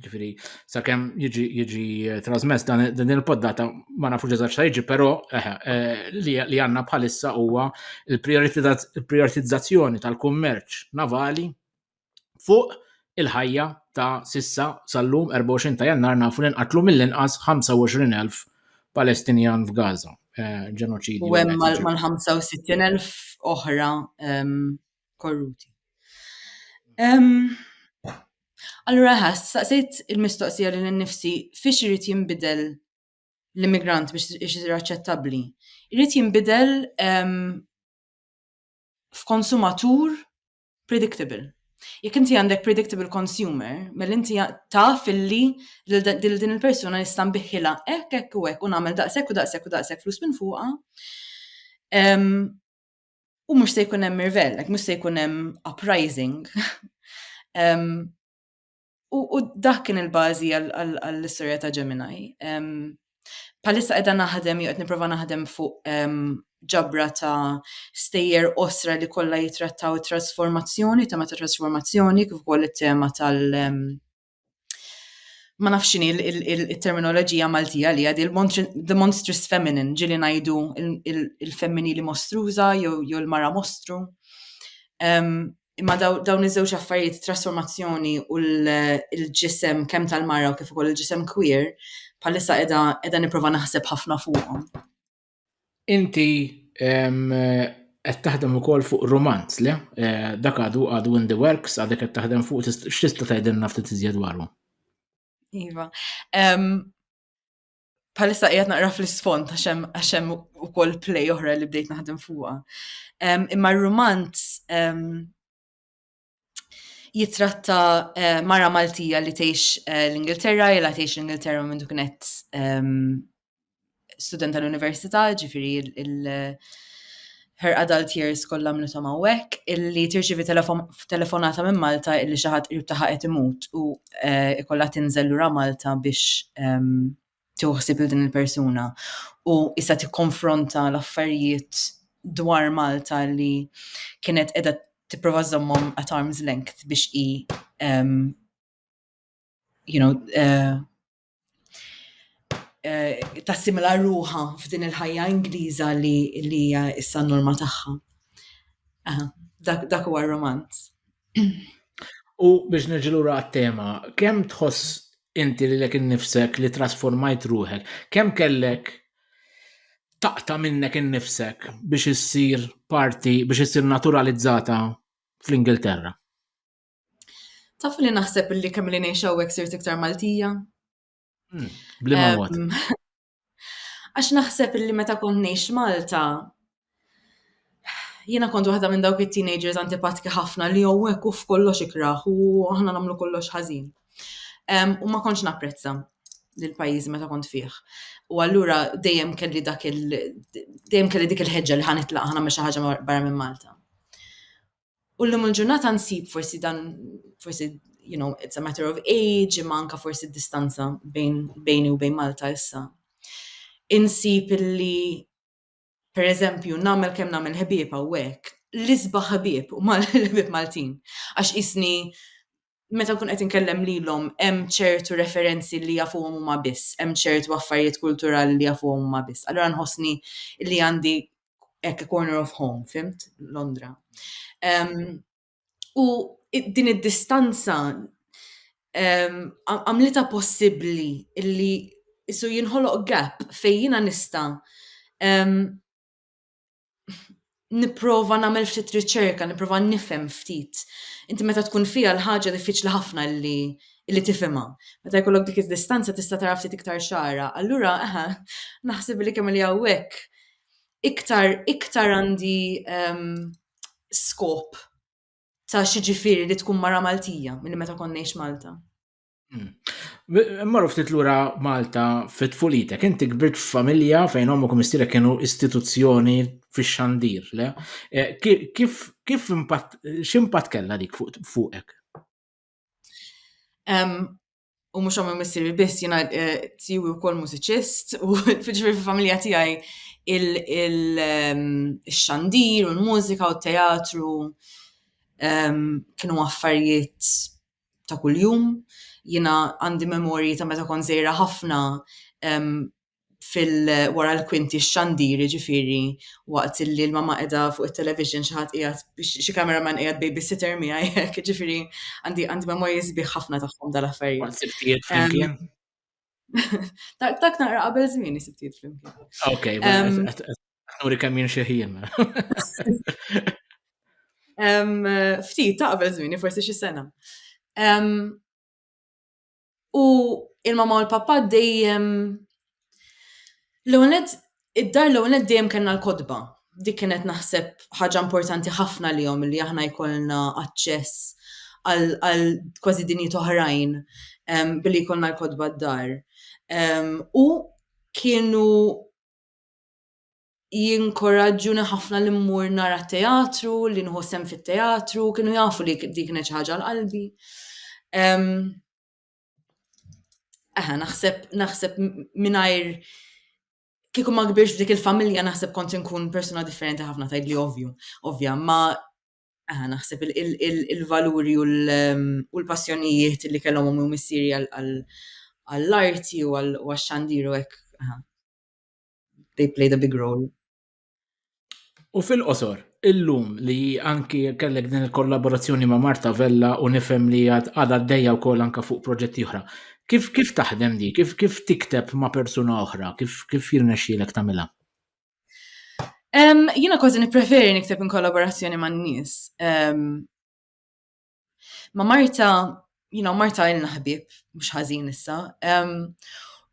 S1: ġifieri sakemm jiġi jiġi eh, trasmess dan din il-poddata ma nafux eżatt x'ta' jiġi, però eh, eh, li għandna bħalissa huwa l-prioritizzazzjoni tal-kummerċ navali fuq il-ħajja ta' sissa sal-lum 24 ta' jannar nafu li nqatlu mill-inqas 25,000 Palestinjan f'Gaza. Eh, ġenoċidju. U hemm mal-65,000 oħra ehm, korruti. Ehm, allura ħass, saqsejt il-mistoqsija li l-nifsi fiex irid jinbidel l-immigrant biex isir aċċettabbli. Irid jinbidel ehm, f'konsumatur predictable. Jekk inti għandek predictable consumer, mel inti taf illi lil din il-persuna nista' nbiħħilha hekk hekk u hekk u nagħmel daqshekk u daqshekk u daqshekk flus minn fuqha. U mhux se jkun hemm irvell, mhux se jkun hemm uprising. U, u dak kien il-bażi għall-istorja ta' Gemini. Palissa qiegħda naħdem, jew qed nipprova naħdem fuq ġabra ta' stejjer osra li kollha jitrattaw it-trasformazzjoni, tema ta' trasformazzjoni, kif ukoll it-tema tal- ma nafx il-terminoloġija Maltija li għadi the monstrous feminine, ġili ngħidu il-femminili mostruża jew il-mara mostru. Imma dawn iż-żewġ affarijiet, trasformazzjoni u l-ġisem kemm tal-mara u kif ukoll il-ġisem queer, bħalissa qiegħda qiegħda nipprova naħseb ħafna fuqhom. Inti qed taħdem ukoll fuq romanz, le? Eh, dak għadu għadu in the works, għadek qed taħdem fuq x'tista' tgħidilna ftit iżjed dwaru. Iva. bħalissa qiegħed naqra fl-isfond għax hemm ukoll play oħra li bdejt naħdem fuqha. Imma r-rumanz jitratta eh, mara Maltija li tgħix eh, l-Ingilterra, jela tgħix l-Ingilterra minn duknet student tal-Università, ġifiri il- Her adult years kollha għamlithom hawnhekk, illi tirċievi telefonata minn Malta illi xi ħadd qrib tagħha qed imut u eh, ikollha tinżel lura Malta biex ehm, tiħsib il din il-persuna. U issa tikkonfronta l-affarijiet dwar Malta li kienet qiegħda tipprova żommhom at arm's length biex i ehm, you know, eh, eh, tassimila ruħa f'din il-ħajja Ingliża li hija issa n-norma tagħha. Dak huwa r-romanz. U biex nirġilura għat-tema, kemm tħoss inti li lek innifsek li trasformajt ruħek, kemm kellek taqta minnek innifsek biex issir parti, biex issir naturalizzata fl-Ingilterra? Tafu li naħseb li kemm li ngħix hawnhekk sirt iktar Maltija? Hmm, Blima mod. Għax naħseb li meta kont ngħix Malta, jiena kont waħda minn dawk it-teenagers antipatki ħafna li hawnhekk u f'kollox ikraħ u aħna nagħmlu kollox ħażin. U ma kontx napprezza l-pajjiż meta kont fih. U allura dejjem kelli dak il dejjem kelli dik il-ħeġġa li ħanitlaq ħana xi ħaġa barra minn Malta. U llum il-ġurnata nsib forsi dan forsi you know, it's a matter of age, imma anka forsi distanza bejn bejni u bejn Malta issa. Insib illi per eżempju nagħmel kemm nagħmel ħbieb hawnhekk, l-isbaħ ħbieb u mal-ħbieb Maltin. Għax isni meta nkun qed inkellem lilhom hemm ċertu referenzi li jafuhom huma biss, hemm ċertu affarijiet kulturali li jafuhom huma biss. Allura nħossni li għandi hekk a corner of home, fimt? Londra. Um, u din id-distanza um, għamlita possibbli illi isu jinħoloq gap fejn jiena nista' um, nipprova nagħmel ftit riċerka, nipprova nifhem ftit. Inti meta tkun fija l-ħaġa diffiċli ħafna li li tifhimha. Meta jkollok dik id-distanza tista' tara ftit iktar xara. Allura, aha, naħseb li kemm li hawnhekk iktar iktar għandi ehm, skop ta' xi ġifieri li tkun mara Maltija milli meta konniex Malta. Hmm. Marru ftit lura Malta fit fulitek inti kbirt f'familja fejn omok u mistirek kienu istituzzjoni fix xandir le? Eh, kif, kif impatt, x'impatt kella dik fuqek? U mux għamma missiri biss jina eh, tiju u kol mużiċist u fġifir fil-familja tijaj il-xandir u l-mużika u t-teatru kienu affarijiet ta' kuljum. Jiena għandi memorji ta' meta kont żgħira ħafna fil-wara l-kwinti x-xandir ġifieri waqt li l-mamma qiegħda fuq it-television xi ħadd qiegħed xi camera man qiegħed babysitter miegħi hekk ġifieri għandi memorji sbieħ ħafna tagħhom dal-affarijiet. Tak naqra qabel żmien isib tiet flimkien. Ok, nuri kemm jien xeħin. Ftit ta' qabel żmien, forsi xi sena. U il-mama u l-pappa dejjem l-għonet Id-dar l-ewwel nett dejjem kellna l-kotba. Dik kienet naħseb ħaġa importanti ħafna għalihom li aħna jkollna aċċess għal kważi dinjiet oħrajn billi jkollna l-kotba d-dar. U kienu jinkoraġġuni ħafna li mmur nara t-teatru, li nieħu sehem fit-teatru, kienu jafu li dik kienet xi ħaġa għal qalbi. Aha, naħseb, naħseb minajr kieku ma kbirx dik il-familja naħseb kont inkun persuna differenti ħafna tajd li ovvju, ovvja, ma aha, naħseb il-valuri u ehm, l-passjonijiet li kellhom u missieri għall-arti u għax-xandiru hekk. They played a big role. U fil-qosor, illum li anki kellek din il-kollaborazzjoni ma' Marta Vella u nifhem li għad għaddejja u kol anka fuq proġetti oħra. Kif, kif taħdem di? Kif, kif tikteb ma' persuna oħra? Kif, kif jirnexxilek tamila? Um, jina kważi nipreferi nikteb in kollaborazzjoni ma' nis. Um, Ma Marta, you know, Marta ilna ħbib, mhux ħażin issa.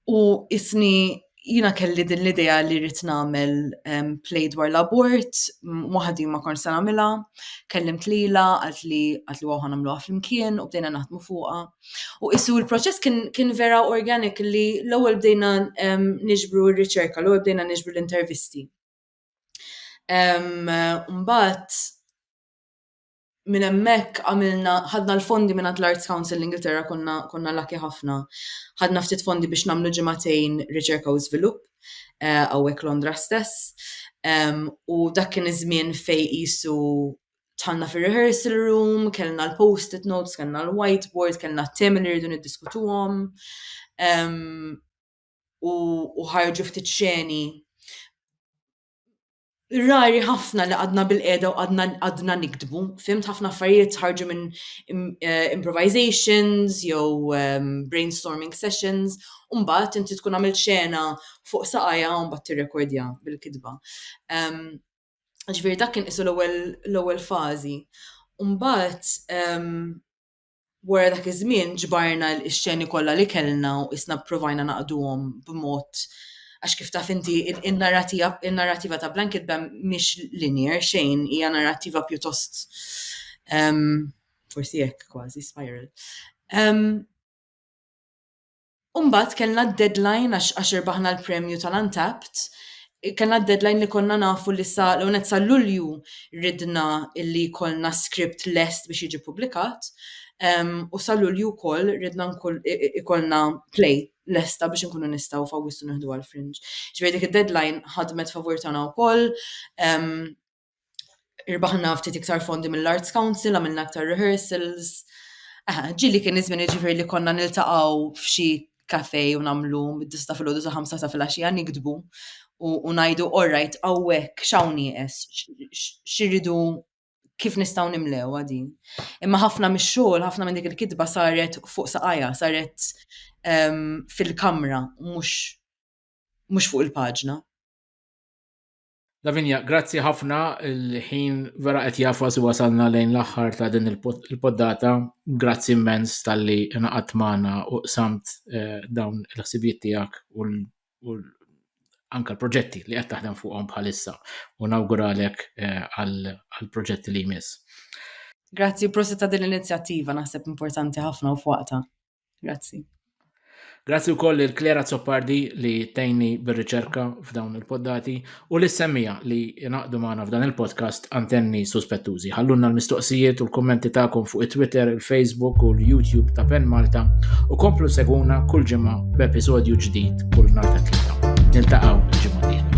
S1: u isni jina kelli din l-idea li rrit namel um, play dwar l-abort, waħdi ma kon sa namela, kellim tlila, għalt li għalt li waħan għamlu flimkien u bdejna naħdmu fuqa. U issu il-proċess kien, kien vera organik li l-ewwel bdejna um, niġbru r-riċerka, l-ewwel bdejna niġbru l-intervisti. Um, Mbagħad minn hemmhekk għamilna ħadna l-fondi mingħand l-Arts Council l-Ingilterra konna konna laki ħafna. Ħadna ftit fondi biex nagħmlu ġimagħtejn riċerka u żvilupp eh, hawnhekk Londra stess. Um, u dak kien iż-żmien fej qisu tħanna fir-rehearsal room, kellna l-post-it notes, kellna l-whiteboard, kellna t-temi li rridu niddiskutuhom. Um, u ħarġu ftit xeni rari ħafna li għadna bil-qeda u għadna niktbu, fimt ħafna affarijiet ħarġu minn eh, improvisations jew ehm, brainstorming sessions, u mbagħad inti tkun għamilt xena fuq saqajja u mbagħad tirrekordja bil-kitba. Ehm, ġifieri dak kien isu l-ewwel fażi. Mbagħad ehm, Wara dak iż-żmien ġbarna x-xeni kollha li kellna u qisna pprovajna naqduhom b'mod għax kif taf inti in-narrattiva ta' Blanket Ban mhix linear xejn, hija narrattiva pjuttost forsi hekk kważi spiral. U mbagħad kellna d-deadline għax għax irbaħna l-premju tal-Untapped, kellna d-deadline li konna nafu li sa l-għonet sa Lulju ridna illi jkollna script lest biex jiġi publikat, um, u sa Lulju wkoll ridna jkollna play lesta biex nkunu nistgħu f'Awwissu nieħdu għal-fringe. Ġifieri dik id-deadline ħadmet favur tagħna wkoll, um, irbaħna ftit iktar fondi mill-Arts Council, għamilna aktar rehearsals. Ġili kien iż-żmien ġifieri li konna niltaqgħu f'xi kafe u nagħmlu mid-dista fil-ħodu sa' ħamsa ta' filgħaxija nikdbu u ngħidu orrajt hawnhekk x'hawn nieqes, x'iridu kif nistgħu nimlew din. Imma ħafna mix-xogħol, ħafna minn dik il-kitba saret fuq saqajja, saret ehm, fil-kamra, mhux fuq il-paġna. Lavinia, grazzi ħafna il-ħin vera qed jafas wasalna lejn l-aħħar ta' din il-poddata. Grazzi immens tal-li naqat magħna u qsamt eh, dawn il-ħsibijiet tiegħek u anka l-proġetti li qed taħdem fuqhom bħalissa u nawguralek eh, għall-proġetti li jmiss. Grazzi prosi ta' din l-inizjattiva naħseb importanti ħafna u fuqta. Grazzi. Grazzi u koll il-Klera Zoppardi li tejni bil-riċerka f'dawn il-poddati u l-semmija li naqdu maħna f'dan il-podcast antenni suspettużi. Ħallunna l-mistoqsijiet u l-kommenti ta'kom fuq il-Twitter, il-Facebook u l-YouTube ta' Pen Malta u komplu seguna kull ġimma b'episodju ġdid kull nar ta' tlita. Niltaqaw ġimma diħla.